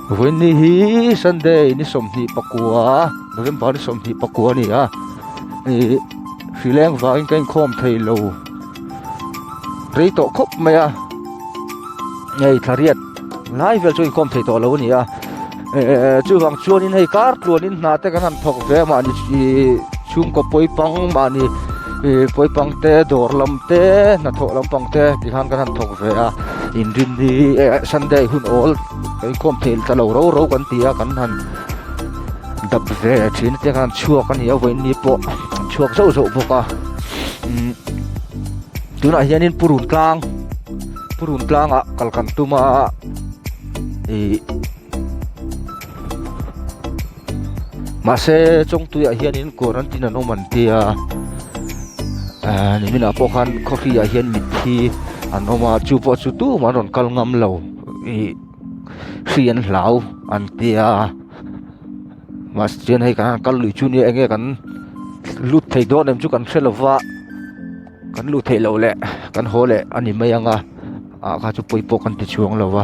Vawiin ni hi Sunday ni sawmhnih pakua November ni sawmhnih pakua a ni a, ih hrileng vangin ka inkhawm thei lo rei tawh khawp mai a, hei thla riat lai vel chu inkhawm thei tawh lo a ni a, eh chuvang chuan hei kartluanin hnate kan han thawk ve mah ni ih chhungkaw pawi pang mah ni, ihh pawi pang te dawr lam te hnathawh lampang te ti khan kan han thawk ve a in rin hi ehh sunday hun awl inkhawm fel ta lo rau rau kan ti a kan han dap ve thin te khan chhuak a ni a vawiin ni pawh chhuak zauh zauh bawk a umm tunah hianin pu run tlang pu run tlangah kal kan tum a ihh-- Mahse chawngtuiah hianin quarantine an awm an tia niminah pawh khan coffee ah hian mithi an awm a chu pawh chu tum an rawn kal ngam lo ih hri an hlau an tia mahse chuan hei kan kal lui chu nia enge kan lut thei dawn em chu kan hre lova kan lut theih loh leh kan haw leh a ni mai ang a ah kha chu pawi pawh kan ti chhuang lo va.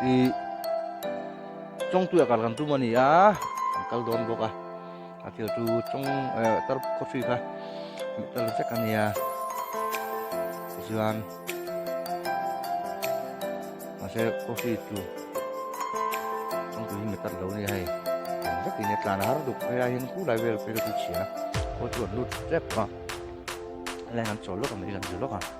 ih chawngpuiah kal kan tum a ni a kan kal dawn bawk a a tir chu chawng eh tar coffee kha hmuh tel vek a ni a tichuan mahse coffee chu chawngpuiin mi tar lo ni hei eng vek in e tlan a har duk hei a hin pu lai vel pawh i ka tui chhiah a pawh chu an lut tep a a lain an chawl lawk a mai hi kan zir lawk a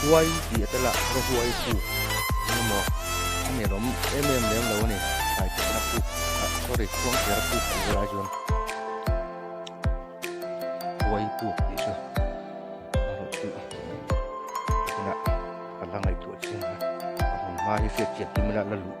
Huai tih a tel a, Rahuai pu emaw a ni alawm em em lem lo a ni, Thlai Phihna pu ah sorry Khuangthera pu tih vel ai chuan Huai pu tih chu a rawn tih a, tunah ka la ngaihtuah chin a, a hmun hma hi hriatchian hlim ila la luh.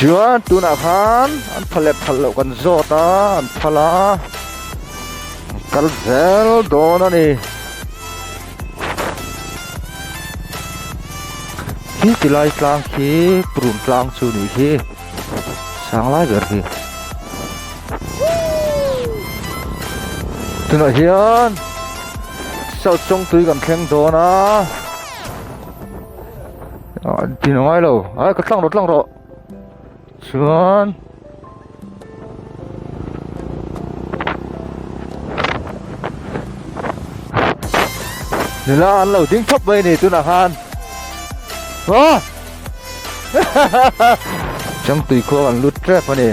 Chuan tunah khan an phal leh phal loh kan zawt a, an phal a, an kal zel dawn a ni. Khi ti lai tlang khi purun tlang chu nih hi, sang lai ber hi. Tunah hian South Chawngtui kan thleng dawn a. an tino ngai lo ai ka tlang rawh tlang rawh chuan nula an lo ding thap mai a ni tunah khan aw. Chang tui khuang an lut tep a ni.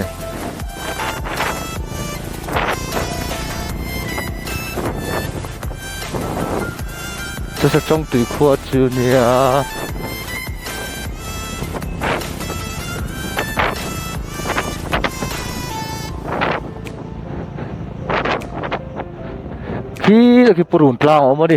Chu sa chawng tui khua chu nia khi khi purun tlang awm a ni.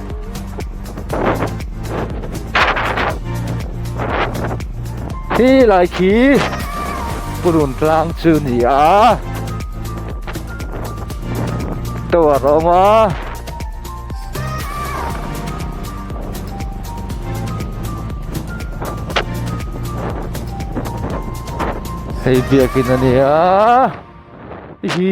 hi lai khi purun tlang chu ni a to a rawm a hei biakin a ni a hi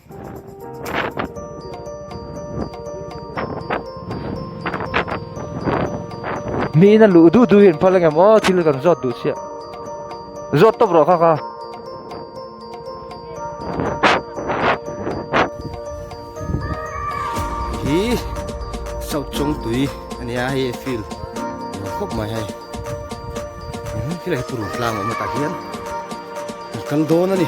mina lu du du in phala ngam o thil kan zot du sia zot top ro kha kha hi sau chung tui ani a hi feel khop mai hai khi lai puru tlang ma ta hian kan don ani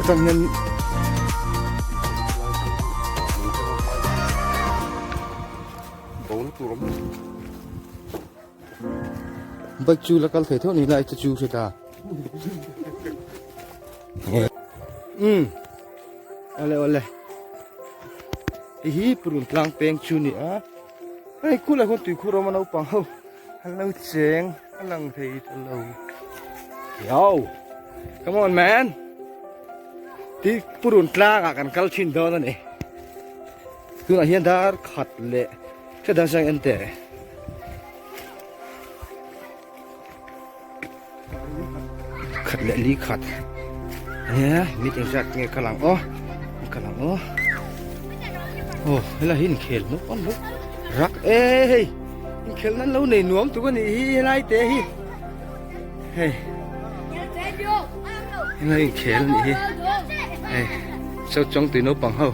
Hetiang hian Bike chu la kal thei theuh ni lai chu chu hriat a. Ole ole. I hi purun tlang peng chu ni a. Ai khula khun tui khura ma no pang ho. Hello cheng alang thei hello. Yo. Come on man. Ti purun tlang a kan kal thin don ani. Tuna hian dar khat le. Che dan sang ente. khat leh li khat he meeting hriat nge ka lang aw ka lang aw oh helai hi inkhel nawk awm bawk rak e hei inkhel nan lo nei nuam tuk a nih hi helai te hi hei helai inkhel nih hi hei sau chong tui naupang ho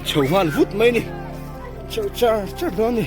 chho nghal vut mai ni chho char char dawn ni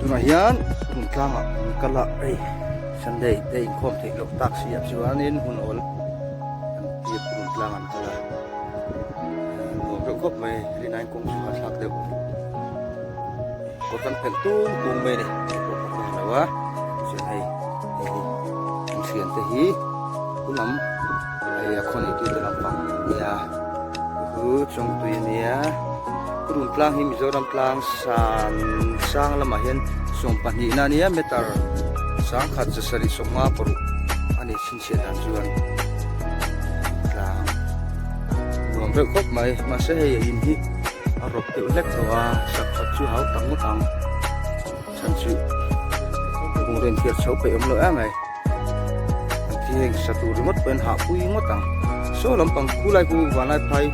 tunah hian hun tlangah min kal a hei sunday te inkhawm theih loh tak siam chuanin hun awl kan tih hun tlang an kal a nuam reuh khawp mai rin ain kawng chu ka thlak deuh. Kawr kan phelh tum tum mai a ni. Kawr ka phei lo a, chuan hei an thian te hi khum lam hei a khaw nei tute lampang a ni a, hei chu chawngpui a ni a, ka rawn tlang hi Mizoram tlang san sang lamah hian sawmpahnih na nia meter sangkhat zasarih sawmnga paruk a ni. Chhiat dan chuan tlang nuam reuh khawp mai. Mahse hei a in hi a rawp deuh hlek tho a, sak tak chu hau tak ngawt ang. Chhan chu kung reng thiar chho peih awm loh em mai. An thi heng sa tur ringawt pawhin hah pui ngawt ang. Saw lampang khu lai khu vanlai phai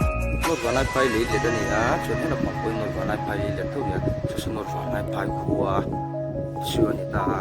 nawt vanlai phai lei let a ni a, chuan he lampang pawhin nawt vanlai phai lei let deuh nia. Saw saw nawt vanlai phai khu a issue a ni ta a.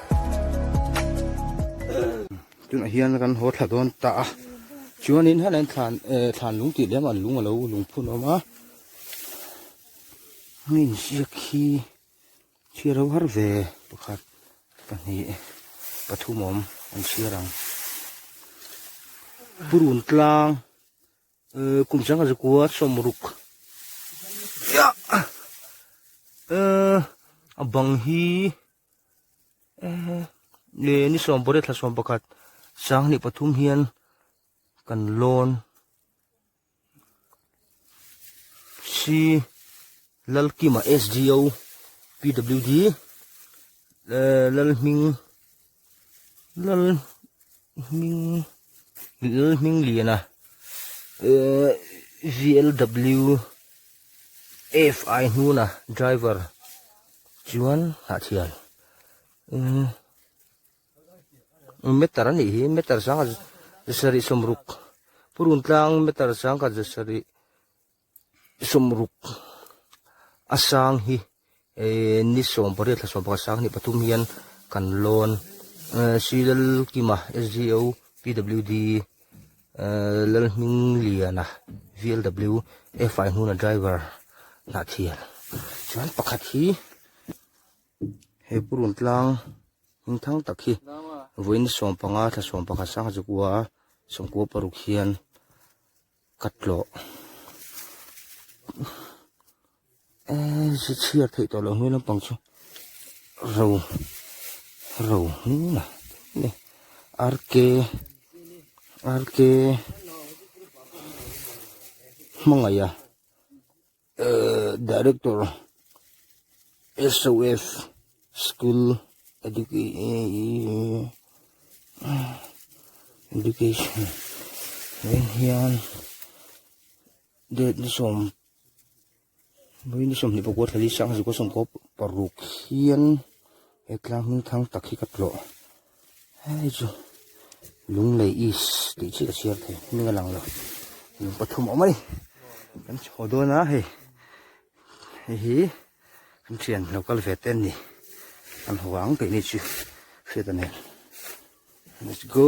tunah hian kan haw thla dawn ta a chuanin hela in thlan eh thlan lung tih lehma an lung a lo lung phun awm a hemi in ziak hi chhiar ho har ve pakhat pahnih pathum awm an chhiar ang purun tlang eh kum changa zakua sawmruk a bang hi-- ni ni sawm pawh tha sawm pakhat sanghnih pathum hian kan lawn si lalkima sdo pwd eh, lalhming lal Hming Lil Hming Lian a eh VLW F I hnuna driver chuan Hnahthian eh Meter a nih hi Meter Sangha Zasarih Sawmruk Purun Tlang Meter Sangha Zasarih sawmruk a sang hi ehh ni sawm pariat thlasawn pakhat sang ni pathum hian kan lawn ehh sri lalkima sgo pwd ehh lalhming liana vlw fai hnuna driver hnah thian chuan pakhat hi he pu rawn tlang hming thang tak hi vawiin sawmpanga thlasawm pakhat sanga chu kua sawmkua paruk hian-- Ka tlawh eee si chhiar theih tawh loh hnu lampang chu ro ro hnun a ni RK RK hmangaih a. Director SOF School Education vawin hian date ni sawm mui ni sawm hnih pakua thla li sang zuka sawm kaw paruk hian he tlang hming thang tak hi ka tlawh. Hei chu Lunglei East tih chiah a chhiar theih hming a lang lo. Lung pathum awm mai. Kan chhaw dawn a hei. Hei hi kan thian lo kal ve te a ni. Kan haw ang tih ni chu hriat a nen. Let's go.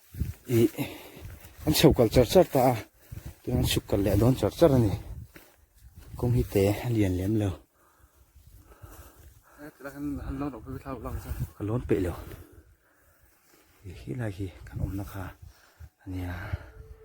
ih an chho kal char char ta a tin an chhuk kal leh dawn char char a ni kawng hi te a lian lem lo ka lawn peih lo ih helai hi kan awmna kha a nia.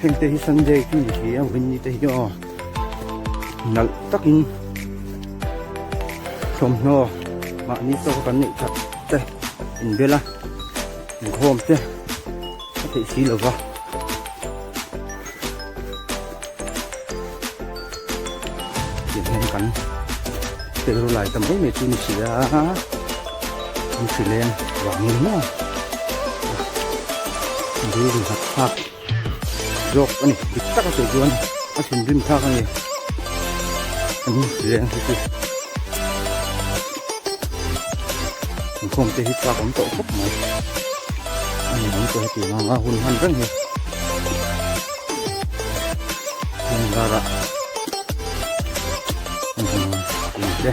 Heng te hi Sunday khi ni si ang vinni te hi aw nal takin thawmhnaw mahni chaw kan neih that te inbela inkhawm te a theih si lova Tiangin kan tel lai ta mai mai chu ni si a, kan hrileng vang ni maw? Thinrim rimhak thlak zawk a ni, dik taka tih chuan a thinrim thlak a ni, kan hrileng hi chu inkhawm te hi tlak awm tawh khawp mai, a ni ang pawh hetianga hun han reng hi. Hmingara Hmingte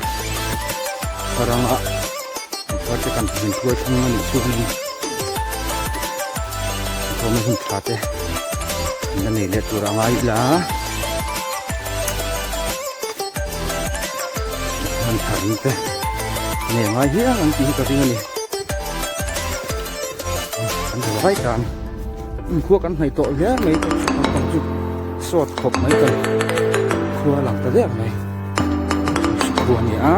Haranga Hmingte kan hming tuai thung ani chu ni Hmingte hming thate Hmingte nei le tura ngai la Han thar ni te Nei ngai hiang an ti ka ring ani Kan hmu vai tan Inkhua kan hnaih tawh viau mai chu naupang chu sawt khawp mai ta ni. Khua a lang ta viau mai. Khua a ni a.